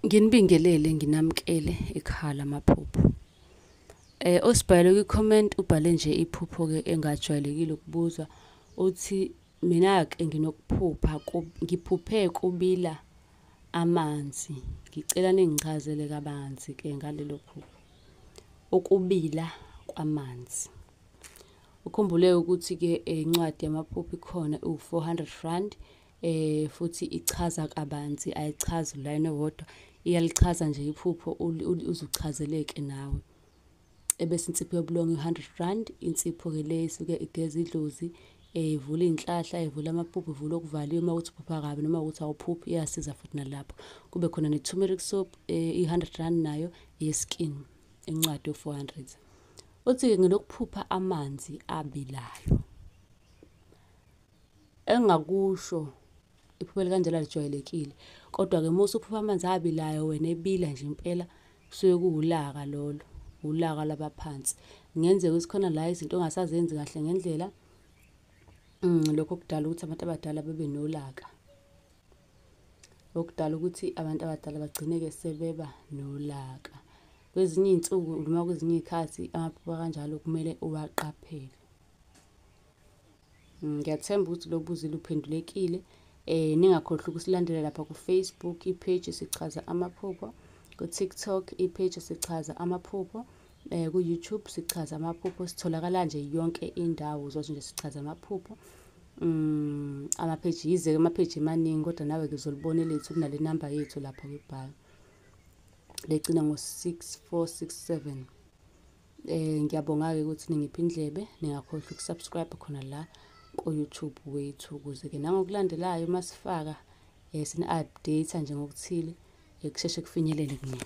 Nginibingelele nginamkele ekhala amaphupho. Eh osibhayelo kwi comment ubhale nje iphupho ke engajwayelekile ukubuzwa uthi mina ke nginokuphupha ngiphuphe kubila amanzi ngicela ningichazele kabanzi ke ngalelo phupho ukubila kwamanzi ukhumbule ukuthi ke incwadi yamaphupho ikhona u400 rand eh futhi ichaza kabanzi ayichazi line wodwa iyalichaza nje iphupho uzuchazeleke nawe ebese insipho yobulongo i-100 rand insipho ke le isuke igeza idlozi eh, ivula iy'nhlahla ivula amapuphu ivula okuvaliwe uma ukuthi uphupha kabi noma ukuthi awuphuphi iyasiza futhi nalapho kube khona ne-tumeric soap eh, i-100 rand nayo ye-skin incwadi yo-400 uthi-ke ngilokuphupha amanzi abilayo Engingakusho iphupho elikanjena lijwayelekile kodwa-ke uma usuphupha amanzi abilayo wena ebila nje impela kusuke kuwulaka lolo wulaka lwabaphansi kungenzeka ukuthi khona la izinto ongasazenzi kahle ngendlela um lokho kudala ukuthi abantu abadala bebe nolaka okudala ukuthi abantu abadala bagcineke sebeba nolaka kwezinye iy'nsuku noma kwezinye iy'khathi amaphupho kanjalo kumele uwaqaphele Mm, ngiyathemba ukuthi lo buzi luphendulekile um ningakhohlwa ukusilandela lapha kufacebook ipage sichaza amaphupho kutiktok ipage sichaza amaphupho um kuyoutube sichaza amaphupho sitholakala nje yonke indawo uzothi nje sichaza amaphupho um amapheji yize-ke amapheji emaningi kodwa nawe-ke uzolibona elethu kunale namba yethu lapha kwibhayo legcina ngo-six four six seven Eh ngiyabonga-ke ukuthi ningipha indlebe ningakhohlwa ukusubscribe khona la ku-YouTube wethu ukuze-ke nangokulandelayo uma sifaka eh, sini-update nje ngokuthile eh, kusheshe kufinyelele kunina